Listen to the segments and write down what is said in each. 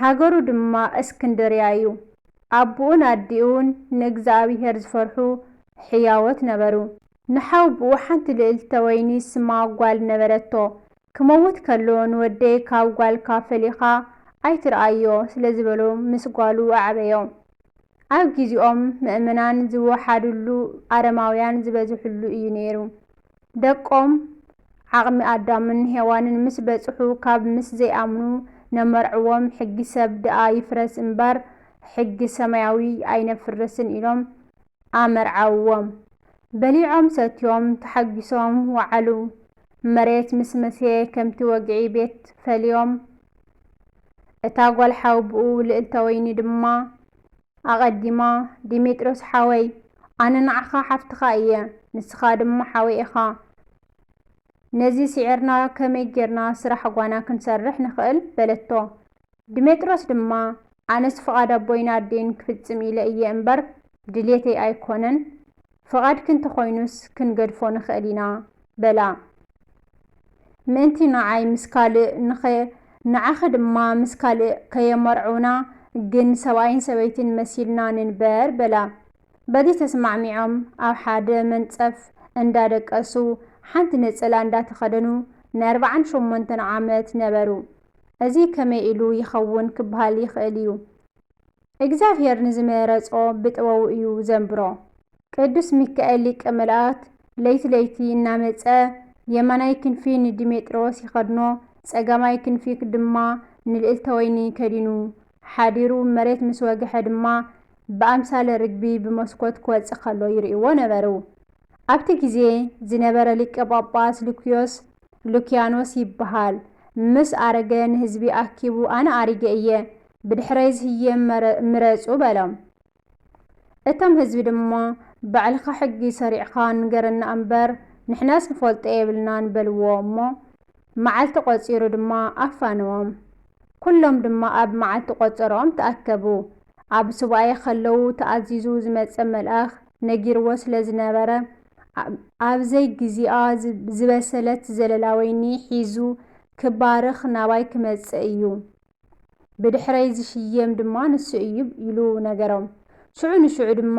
ሃገሩ ድማ እስክንድርያ እዩ። ኣቡኡን ኣዲኡን ንእግዝኣብሄር ዝፈርሑ ሕያዎት ነበሩ። ንሓውቡኡ ሓንቲ ልእልተ ወይኒ ስማ ጓል ነበረቶ። ክመውት ከሎ ንወደይ ካብ ጓልካ ፈሊኻ ኣይትርኣዮ ስለዝበሎ ምስ ጓሉ ኣዕበዮ። ኣብ ግዜኦም መእመናን ዝወሓዱሉ ኣረማውያን ዝበዝሑሉ እዩ ነይሩ። ደቆም ዓቕሚ ኣዳምን ሄዋንን ምስ በጽሑ ካብ ምስ ዘይኣምኑ ነመርዕዎም ሕጊ ሰብ ድኣ ይፍረስ እምበር ሕጊ ሰማያዊ ኣይነፍርስን ኢሎም ኣመርዓውዎም። በሊዖም ሰትዮም ተሓጊሶም ወዓሉ። መሬት ምስ መስሔ ከምቲ ወግዒ ቤት ፈልዮም። እታ ጓል ሓውብኡ ልእልተወይኒ ድማ ኣቐዲማ ዲሜጥሮስ ሓወይ ኣነ ንዓኻ ሓፍትኻ እየ ንስኻ ድማ ሓወይ ኢኻ ነዚ ሲዒርና ከመይ ጌርና ስራሕ ጓና ክንሰርሕ ንኽእል በለቶ ዲሜጥሮስ ድማ ኣነስ ፍቓድ ኣቦይን ኣዴን ክፍጽም ኢለ እየ እምበር ድልየተይ ኣይኮነን ፍቓድኪ እንተ ዀይኑስ ክንገድፎ ንኽእል ኢና በላ። ምእንቲ ንዓይ ምስ ካልእ ንኸ ንዓኺ ድማ ምስ ካልእ ከየመርዕውና ግን ሰብኣይን ሰበይትን መሲልና ንንበር በላ። በዚ ተስማዕሚዖም ኣብ ሓደ መንጸፍ እንዳ ደቀሱ ሓንቲ ነጸላ እንዳ ተኸደኑ ንኣርብዓን ሸሞንተን ዓመት ነበሩ። እዚ ከመይ ኢሉ ይኸውን ክበሃል ይኽእል እዩ። እግዚኣብሔር ንዝመረጾ ብጥበቡ እዩ ዘንብሮ። ቅዱስ ሚካኤል ሊቀ መላእክት ለይቲ ለይቲ እናመጸ የማናይ ክንፊ ንዲሜጥሮስ ይኸድኖ ጸጋማይ ክንፊ ድማ ንልእልተ ወይኒ ከዲኑ ሓዲሩ መሬት ምስ ወገሐ ድማ ብኣምሳለ ርግቢ ብመስኮት ክወጽእ ከሎ ይርእይዎ ነበሩ። ኣብቲ ግዜ ዝነበረ ሊቀ ጳጳስ ሉክዮስ፣ ሉክያኖስ፣ ይበሃል ምስ ኣረገ ንህዝቢ ኣኪቡ ኣነ ኣሪገ እየ ብድሕረይ ዝህየ ምረጹ በሎም። እቶም ህዝቢ ድማ ባዕልኻ ሕጊ ሰሪዕኻ ንገረና እምበር ንሕናስ ንፈልጦ የብልናን በልዎ እሞ መዓልቲ ቆጺሩ ድማ ኣፋነዎም። ኩሎም ድማ ኣብ መዓልቲ ቆጸርኦም ተኣከቡ። ኣብ ሱባኤ ከለዉ ተኣዚዙ ዝመጸ መልኣኽ ነጊርዎ ስለ ዝነበረ ኣብ ዘይ ግዚኣ ዝበሰለት ዘለላ ወይኒ ሒዙ ክባርኽ ናባይ ክመጽእ እዩ ብድሕረይ ዝሽየም ድማ ንሱ እዩ ኢሉ ነገሮም። ሽዑ ንሽዑ ድማ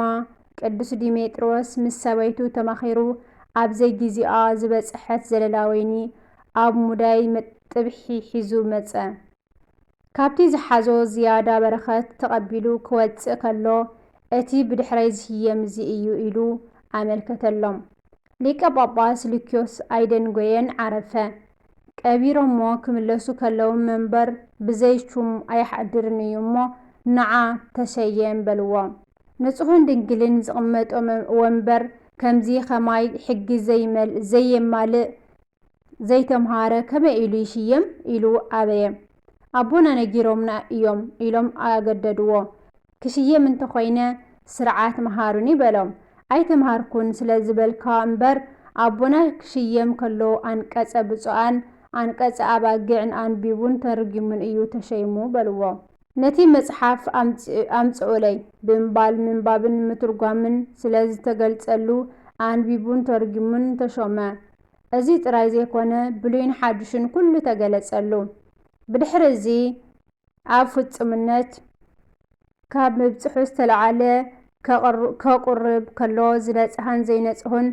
ቅዱስ ዲሜጥሮስ ምስ ሰበይቱ ተማኺሩ ኣብ ዘይጊዜኣ ዝበጸሐት ዘለላ ወይኒ ኣብ ሙዳይ መጥብሒ ሒዙ መጸ። ካብቲ ዝሓዞ ዝያዳ በረኸት ተቐቢሉ ክወጽእ ከሎ እቲ ብድሕረይ ዝሽየም እዚ እዩ ኢሉ ኣመልከተሎም። ሊቀ ጳጳስ ሉክዮስ ኣይደንጐየን ዓረፈ። ቀቢሮሞ ክምለሱ ከለዉ መንበር ብዘይ ሹም ኣይሓድርን እዩ እሞ ንዓ ተሸየም በልዎ። ንጹሕን ድንግልን ዝቕመጦ ወንበር ከምዚ ኸማይ ሕጊ ዘየማልእ ዘይተምሃረ ከመይ ኢሉ ይሽየም ኢሉ ኣበየ። ኣቦና ነጊሮምና እዮም ኢሎም ኣገደድዎ። ክሽየም እንተኾይነ ስርዓት መሃሩኒ በሎም። ኣይተምሃርኩን ስለዝበልካ እምበር ኣቦና ክሽየም ከሎ ኣንቀጸ ብጹኣን ኣንቀጸ ኣባጊዕን ኣንቢቡን ተርጒሙን እዩ ተሸይሙ በልዎ። ነቲ መጽሓፍ ኣምጽኡለይ ብምባል ምንባብን ምትርጓምን ስለዝተገልጸሉ ኣንቢቡን ተርጒሙን ተሾመ። እዚ ጥራይ ዘይኮነ ብሉይን ሓድሽን ኩሉ ተገለጸሉ። ብድሕሪ እዚ ኣብ ፍጹምነት ካብ ምብጽሑ ዝተለዓለ ከቑርብ ከሎ ዝነጽሀን ዘይነጽሁን፣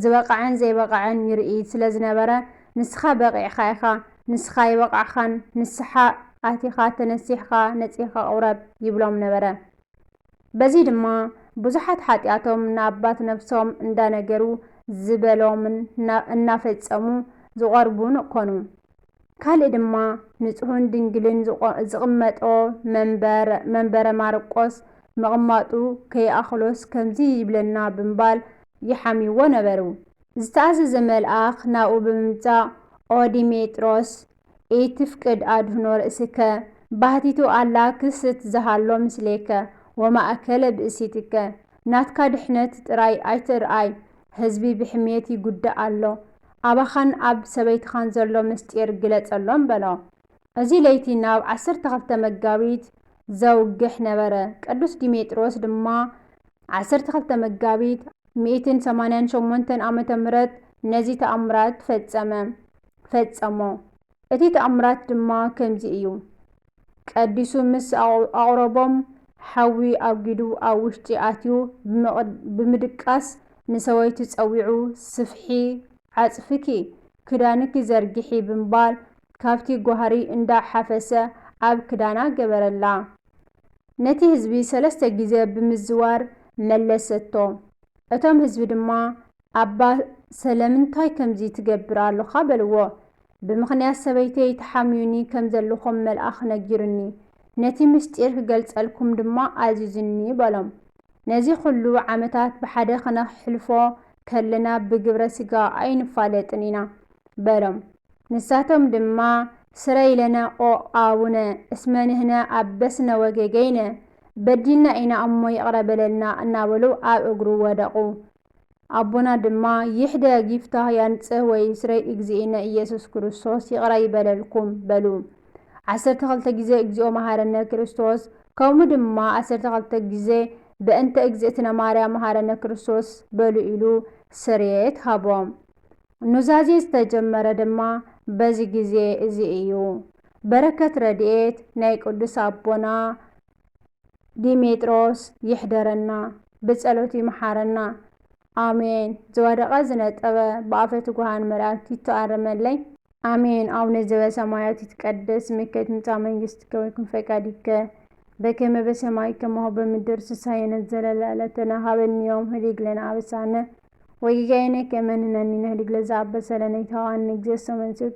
ዝበቐዐን ዘይበቐዐን ይርኢ ስለ ዝነበረ፣ ንስኻ በቒዕካ ኢኻ፣ ንስኻ ኣይበቓዕኻን፣ ንስሓ ኣቲኻ ተነሲሕኻ ነጺህካ ቑረብ ይብሎም ነበረ። በዚ ድማ ብዙሓት ሓጢኣቶም ንኣባት ነብሶም እንዳነገሩ ዝበሎምን እናፈጸሙ ዝቖርቡን ኰኑ። ካልእ ድማ ንጹህን ድንግልን ዝቕመጦ መንበር መንበረ ማርቆስ ምቕማጡ ከይኣኽሎስ ከምዚ ይብለና ብምባል ይሓምይዎ ነበሩ። ዝተኣዘዘ መልኣኽ ናብኡ ብምምጻእ ኦ ዲሜጥሮስ ኢትፍቅድ ኣድኅኖ ርእስከ ባህቲቱ ኣላ ክስት ዘሃሎ ምስሌከ ወማእከለ ብእሲትከ ናትካ ድኅነት ጥራይ ኣይትርኣይ ህዝቢ ብሕምየት ይጉዳእ ኣሎ፣ ኣባኻን ኣብ ሰበይትኻን ዘሎ ምስጢር ግለጸሎም በሎ። እዚ ለይቲ ናብ ዓሰርተ ክልተ መጋቢት ዘውግሕ ነበረ፣ ቅዱስ ዲሜጥሮስ ድማ ዓሰርተ ክልተ መጋቢት ሚእትን ሰማንያን ሸሞንተን ዓመተ ምህረት ነዚ ተኣምራት ፈጸመ፣ ፈጸሞ። እቲ ተኣምራት ድማ ከምዚ እዩ፣ ቀዲሱ ምስ ኣቝረቦም፣ ሓዊ ኣጒዱ ኣብ ውሽጢ ኣትዩ ብምድቃስ ንሰበይቱ ጸዊዑ፣ ስፍሒ ዓጽፍኪ፣ ክዳንኪ ዘርግሒ ብምባል ካብቲ ጓህሪ እንዳ ሓፈሰ ኣብ ክዳና ገበረላ። ነቲ ህዝቢ ሰለስተ ግዜ ብምዝዋር መለሰቶ። እቶም ህዝቢ ድማ ኣባ ሰለምንታይ ከምዚ ትገብር ኣሎኻ በልዎ ብምኽንያት ሰበይተይ ተሓምዩኒ ከም ዘልኹም መልኣኽ ነጊሩኒ ነቲ ምስጢር ክገልጸልኩም ድማ ኣዚዙኒ በሎም ነዚ ኹሉ ዓመታት ብሓደ ክነሕልፎ ከለና ብግብረ ስጋ ኣይንፋለጥን ኢና በሎም ንሳቶም ድማ ስረይ ለነ ኦቅ ኣቡነ እስመ ንህነ ኣበስነ ወጌገይነ በዲልና ኢና እሞ ይቅረ በለልና እናበሉ ኣብ እግሩ ወደቁ ኣቦና ድማ ይሕደግ ይፍታህ ያንጽህ ወይ ስረይ እግዚእነ ኢየሱስ ክርስቶስ ይቕረ ይበለልኩም በሉ ዓሰርተ ክልተ ግዜ እግዚኦ መሃረነ ክርስቶስ ከምኡ ድማ ዓሰርተ ክልተ ግዜ በእንተ እግዝእትነ ማርያም መሃረነ ክርስቶስ በሉ ኢሉ ስርየት ሃቦም። ኑዛዜ ዝተጀመረ ድማ በዚ ግዜ እዚ እዩ። በረከት ረድኤት ናይ ቅዱስ ኣቦና ዲሜጥሮስ ይሕደረና ብጸሎቱ ይምሓረና ኣሜን ዝወደቀ ዝነጠበ ብኣፈ ትጉሃን መላእክት ይተኣረመለይ። ኣሜን ኣቡነ ዘበሰማያት ይትቀደስ ስምከ ትምጻእ መንግስትከ ወይኩን ፈቃድከ በከመ በሰማይ ከማሁ በምድር ሲሳየነ ዘለለ ዕለትነ ሀበነ ዮም ህድግ ለነ አበሳነ ወጌጋየነ ከመ ንሕነኒ ንህድግ ለዘአበሰለነ ኢታብአነ እግዚእሰ መንሱት